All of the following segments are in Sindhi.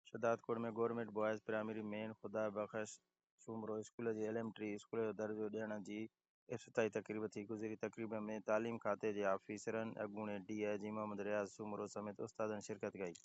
Shahdadkot ۾ government boys primary main Khuda Bakhsh Soomro school جي ايليمنٽري اسڪول جو درجو ڏيڻ جي افتتاحي تقريب ٿي گذري تقريب ۾ تعليم کاتي جي آفيسرن اڳوڻي ڊي آء جي محمد رياض سومرو سميت استادن شرڪت ڪئي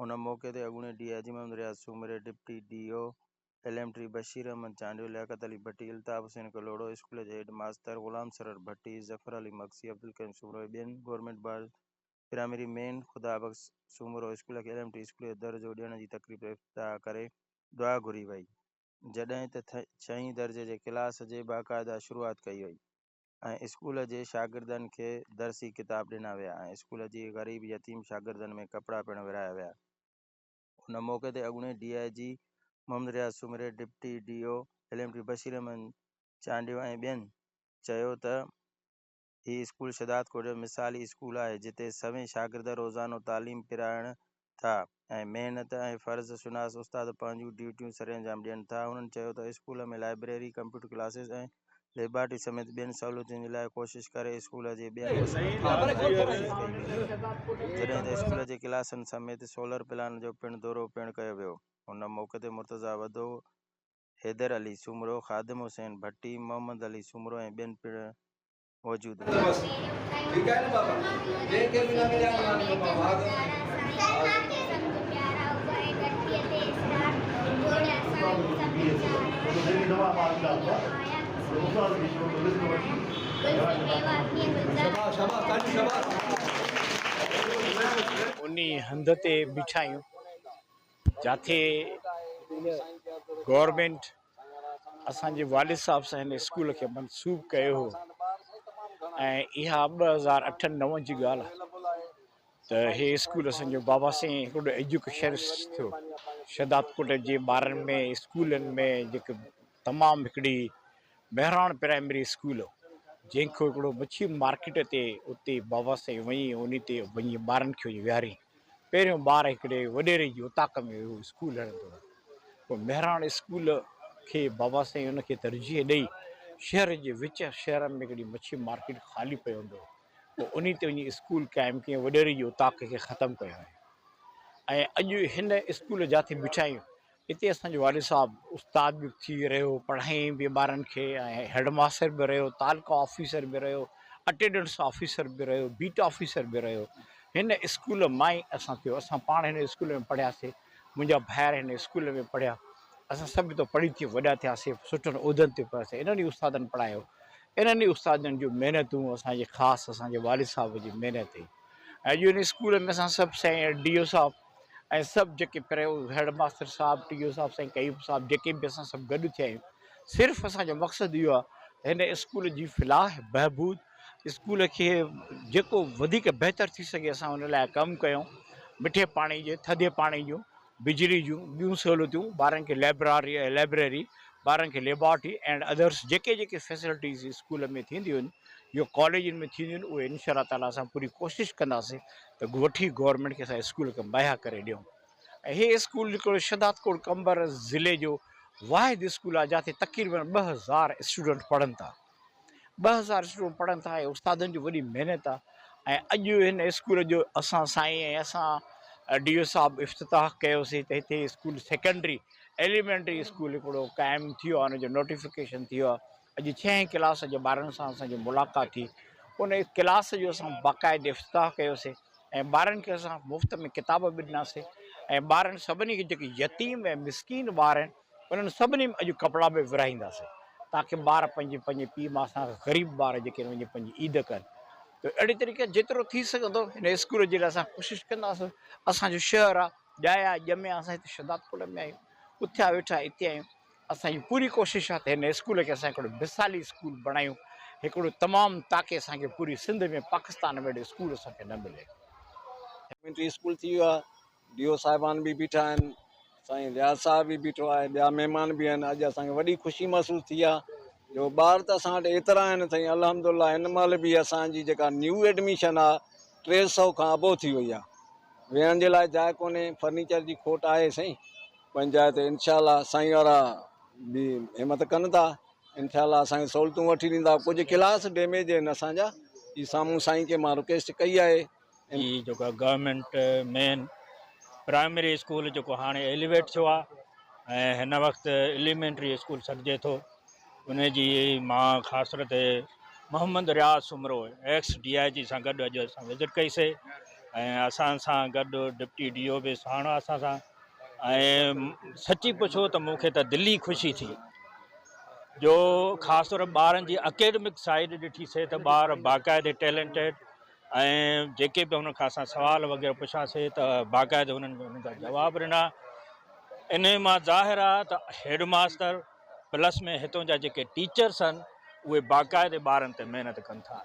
ان موقعي تي اڳوڻي ڊي آء جي محمد رياض سومري deputy D O elementary Bashir Ahmed Chandio Liaquat Ali Bhatti Altaf Hussain Kalhoro school جي ھيڊ ماستر غلام سرور ڀٽي ظفر علي مگسي عبدالڪريم سومرو ۽ ٻين government boys primary main Khuda Bakhsh Soomro school کي ايل ايم ٽي اسڪول جو درجو ڏيڻ جي تقريب افتتاح ڪري دعا گهري وئي جڏهن ته ڇهين درجي جي ڪلاس جي باقاعده شروعات ڪئي وئي ۽ اسڪول جي شاگردن کي درسي ڪتاب ڏنا ويا ۽ اسڪول جي غريب يتيم شاگردن ۾ ڪپڙا پڻ ورهايا ويا ان موقعي تي اڳوڻي ڊي آء جي محمد رياض سومري deputy D O L M T Bashir Ahmed Chandio ۽ ٻين چيو ته هي اسڪول شهدادڪوٽ جو مثالي اسڪول آهي، جتي سوين شاگرد روزانو تعليم پرائڻ ٿا ۽ محنت ۽ فرض شناس استاد پنهنجون ڊيوٽيون سرانجام ڏين ٿا. هنن چيو ته school ۾ library, computer classes ۽ laboratory سميت ٻين سهولتن جي لاء ڪوشش ڪري اسڪول جي ٻين وسيلن کي وڌائڻ جي ڪوشش ڪئي وئي آهي، جڏهن ته اسڪول جي ڪلاسن سميت سولر پلانٽ جو پڻ دورو پڻ ڪيو ويو. هن موقعي تي مرتضيٰ وڌو، حيدر علي سومرو، خادم حسين ڀٽي، محمد علي سومرو ۽ ٻين پڻ موجود هئا. انهيء هنڌ تي بيٺايون. جاٿي گورنمينٽ اسان جي والد صاحب سان هن اسڪول کي منسوب ڪيو هو ۽ اها ٻه هزار اٺ نو جي ڳالهه آهي ته هي اسڪول اسان جو بابا سائين هڪڙو ايجوڪيشن ٿيو شهداد ڪوٽ جي ٻارن ۾ اسڪولن ۾ جيڪي تمام هڪڙي مهراڻ پرائمري اسڪول هو جنهن کي هڪڙو مڇي مارڪيٽ تي اتي بابا سائين وڃي انهي تي وڃي ٻارن کي ويهاري پهريون ٻار هڪڙي وڏيري جي اوطاق ۾ ويهو اسڪول هڻندو هو. پوء مهراڻ اسڪول کي بابا سائين ان کي ترجيح ڏئي شهر جي وچ شهر ۾ هڪڙي مڇي مارڪيٽ خالي پئي هوندو هو پوء انهي تي وڃي اسڪول قائم ڪيائين وڏيري جي اوطاق کي ختم ڪيائين ۽ اڄ هن اسڪول جاٿي بٺايون اتي اسان جو والد صاحب استاد به ٿي رهيو پڙهائي به ٻارن کي ۽ هيڊ ماستر به رهيو تعلقه آفيسر به رهيو اٽيڊنس آفيسر به رهيو بيٽ آفيسر به رهيو هن اسڪول مان ئي اسان ٿيو اسان پاڻ هن اسڪول ۾ پڙهياسي منهنجا ڀائر هن اسڪول ۾ پڙهيا اسان سڀ اتو پڙهي ٿي وڏا ٿياسي سٺن عهدن تي پهتاسي انهن ئي استادن پڙهايو انهن ئي استادن جون محنتون اسان جي خاص اسان جي والد صاحب جي محنت هئي اڄ ان اسڪول ۾ اسان سڀ سائين ڊي او صاحب ۽ سڀ جيڪي پرهيو هيڊ ماستر صاحب ٽي او صاحب سائين قيوم صاحب جيڪي به اسان سڀ گڏ ٿيا آهيون صرف اسان جو مقصد اهو آهي ته هن اسڪول جي فلاح بهبود اسڪول کي جيڪو وڌيڪ بهتر ٿي سگهي اسان ان لاء ڪم ڪيون مٺي پاڻي جي ٿڌي پاڻي جون بجلي جون ٻيون سهولتون ٻارن کي لائبراري لائبريري ٻارن کي ليبارٽري اینڈ ادرس جيڪي جيڪي فيسلٽيز اسڪول ۾ ٿينديون آهن جو ڪاليجن ۾ ٿينديون آهن اهي انشاء الله تعاليٰ اسان پوري ڪوشش ڪنداسين ته ڳوٺي گورنمينٽ کي اسان اسڪول کي مهيا ڪري ڏيون ۽ هي اسڪول جيڪو شهداد ڪوٽ قمبر ضلعي جو واحد اسڪول آهي جتي تقريبن ٻه هزار اسٽوڊنٽ پڙهن ٿا ٻه هزار اسٽوڊنٽ پڙهن ٿا ۽ استادن جي وڏي محنت آهي ۽ اڄ هن اسڪول جو اسان سائين ۽ اسان ڊي او صاحب افتتاح ڪيوسي ته هتي اسڪول سيڪنڊري ايليمنٽري اسڪول هڪڙو قائم ٿيو آهي ان جو نوٽيفڪيشن ٿيو آهي اڄ ڇهين ڪلاس جي ٻارن سان اسان جي ملاقات ٿي ان ڪلاس جو اسان باقاعد افتتاح ڪيوسي ۽ ٻارن کي اسان مفت ۾ ڪتاب به ڏناسي ۽ ٻارن سڀني کي جيڪي يتيم ۽ مسڪين ٻار آهن انهن سڀني ۾ اڄ ڪپڙا به ورهائينداسي تاڪي ٻار پنهنجي پنهنجي پيء ماء سان غريب ٻار جيڪي آهن وڃي پنهنجي عيد ڪن ته اهڙي طريقي جيترو ٿي سگهندو هن اسڪول جي لاء اسان ڪوشش ڪنداسي اسان جو شهر آهي ڄايا ڄميا اسان هتي شهدادپور ۾ آهيون اٿيا ويٺا هتي آهيون اسان جي پوري ڪوشش آهي ته هن اسڪول کي اسان هڪڙو مثالي اسڪول بڻايون هڪڙو تمام تاڪي اسان کي پوري سنڌ ۾ پاڪستان ۾ اهڙو اسڪول اسان کي نه ملي. ايليمينٽري اسڪول ٿي ويو آهي ڊي او صاحبان به بيٺا آهن سائين رياض صاحب به بيٺو آهي ٻيا مهمان به آهن اڄ اسان کي وڏي خوشي محسوس ٿي آهي جو ٻار ته اسان وٽ ايترا آهن سائين الحمد الله هن مهل به اسان جي جيڪا نيو ايڊميشن آهي ٽي سئو کان ابو ٿي وئي آهي ويهڻ جي لاء جاء ڪونهي فرنيچر جي کوٽ آهي سائين پنهنجا هتي انشاء الله سائين وارا به همٿ ڪن ٿا انشاء الله اسانکي سهولتون وٺي ڏيندا ڪجهه ڪلاس ڊيميج آهن اسانجا هي سامهون سائين کي مان رڪويسٽ ڪئي آهي هي جيڪو گورنمينٽ مين پرائمري اسڪول جيڪو هاڻي ايليويٽ ٿيو آهي ۽ هن وقت ايليمينٽري اسڪول سڏجي ٿو ان جي مان خاص طور تي Muhammad Riaz Soomro ex D I G سان گڏ اڄ اسان وزٽ ڪئيسي ۽ اسان سان گڏ ڊپٽي ڊي او به ساڻ اسان سان ۽ سچي پڇو ته مون کي ته دلي خوشي ٿي جو خاص طور ٻارن جي اڪيڊمڪ سائيڊ ڏٺيسي ته ٻار باقاعدي ٽيلنٽيڊ ۽ جيڪي به هن کان اسان سوال وغيره پڇاسي ته باقاعدي هنن هنن جا جواب ڏنا انهي مان ظاهر آ ته هيڊ ماستر پلس ۾ هتون جا جيڪي ٽيچرس آهن اهي باقاعدي ٻارن تي محنت ڪن ٿا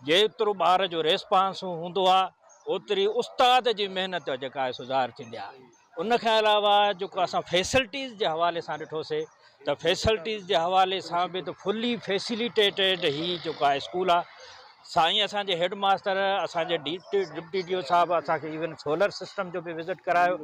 جيترو ٻار جو ريسپانس هوندو آهي اوتري استاد جي محنت جيڪا آهي سو ظاهر ٿيندي آهي ان کان علاوه جيڪو اسان فيسلٽيز جي حوالي سان ڏٺوسي ته فيسلٽيز جي حوالي سان به ته فلي فيسليٽيٽيڊ هي جيڪو آهي اسڪول آهي سائين اسان جي هيڊ ماستر اسان جي ڊي ڊپٽي ڊي او صاحب اسان کي ايون سولر سسٽم جو به وزٽ ڪرايو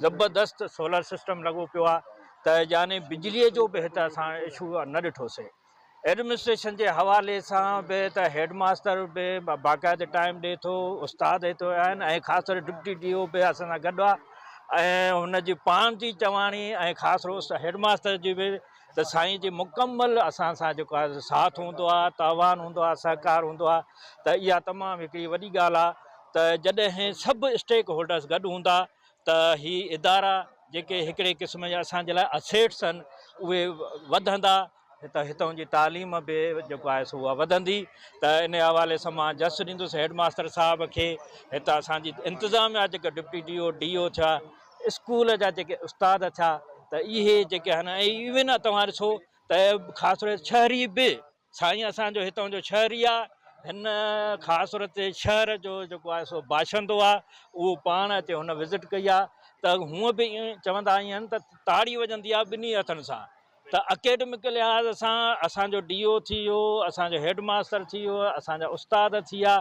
زبردست سولر سسٽم لڳو پيو آهي ته يعني بجلي جو به هت اسان اشو نه ڏٺوسي ايڊمنسٽريشن جي حوالي سان به ته هيڊ ماستر به باقاعده ٽائيم ڏي ٿو استاد هتي آهن ۽ خاص طور ڊپٽي ڊي او به اسان سان گڏ آهي ۽ هن جي پاڻ جي چواڻي ۽ خاص روس هيڊ ماستر جي به ته سائين جي مڪمل اسان سان جيڪو آهي ساٿ هوندو آهي تاوان هوندو آهي سهڪار هوندو آهي ته اها تمام هڪڙي وڏي ڳالهه آهي ته جڏهن سڀ اسٽيڪ هولڊرس گڏ هوندا ته هي ادارا جيڪي هڪڙي قسم جا اسان جي لاء اسيٽس آهن اهي وڌندا ته هتان جي تعليم به جيڪو آهي سو اها وڌندي ته ان حوالي سان مان جس ڏيندس هيڊ ماستر صاحب کي هتان اسان جي انتظاميا جيڪا deputy D O D O ٿيا اسڪول جا جيڪي استاد ٿيا ته اهي جيڪي آهن ايون توهان ڏسو ته خاص طور شهري به سائين اسان جو هتان جو شهري آ. هن خاص صورت تي شهر جو جيڪو آهي سو باشندو آ. اهو پاڻ اتي هن وزٽ ڪئي آ ته هونء به چوندا آهن ته تاڙي وڄندي آ ٻنهي هٿن سان ته اڪيڊمڪ لحاظ سان اسان جو ڊي او ٿي ويو اسان جو هيڊ ماستر ٿي ويو اسان جا استاد ٿي ويا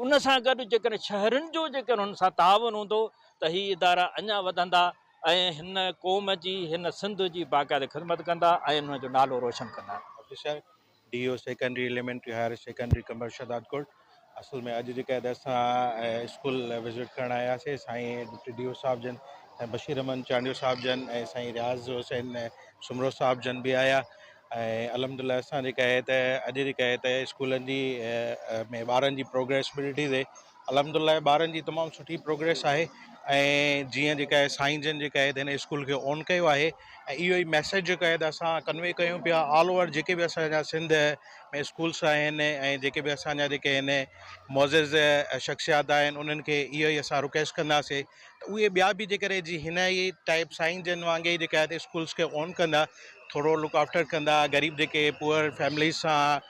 ان سان گڏ جيڪڏهن شهرين جو جيڪڏهن هن سان تعاون هوندو ته هي ادارا اڃان وڌندا. ۽ هن قوم جي هن سنڌ جي باقاعده خدمت ڪندا ۽ ان جو نالو روشن ڪندا. Officer, D O secondary elementary higher secondary Qambar Shahdadkot اصل ۾ اڄ جيڪا هدايت سان اسڪول وزٽ ڪرڻ آيا سي سائين ڊپٽي ڊي او صاحب جن سائين بشير احمد چانڊيو صاحب جن ۽ سائين رياض حسين سومرو صاحب جن به آيا ۽ الحمدلله اسان جيڪا هي ته اڄ جيڪا هي ته اسڪولن جي ۾ ٻارن جي پروگريسبلٽي تي الحمدالله ٻارن جي تمام سٺي پروگريس آهي ۽ جيئن جيڪا آهي سائين جن جيڪا آهي هن اسڪول کي آن ڪيو آهي ۽ اهو ئي ميسيج جيڪا آهي اسان ڪنوي ڪيون پيا آل اوور جيڪي بي اسانجا سنڌ ۾ اسڪولس آهن ۽ جيڪي بي اسانجا جيڪي آهن معزز شخصيات آهن انهن کي اهو ئي اسان رڪويسٽ ڪنداسي ته اهي ٻيا به جيڪر جي هن ئي ٽائيپ سائين جن وانگي جيڪا آهي اسڪولس کي آن ڪندا ٿورو لڪ آفٽر ڪندا غريب جيڪي پوئر فيمليز سان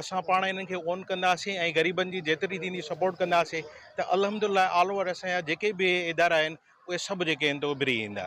اسان پاڻ انهن کي اون ڪنداسين ۽ غريبن جي جيتري ٿيندي سپورٽ ڪنداسين ته الحمدالله آل اوور اسان جا جيڪي به ادارا آهن اهي سڀ جيڪي آهن ته اڀري ايندا.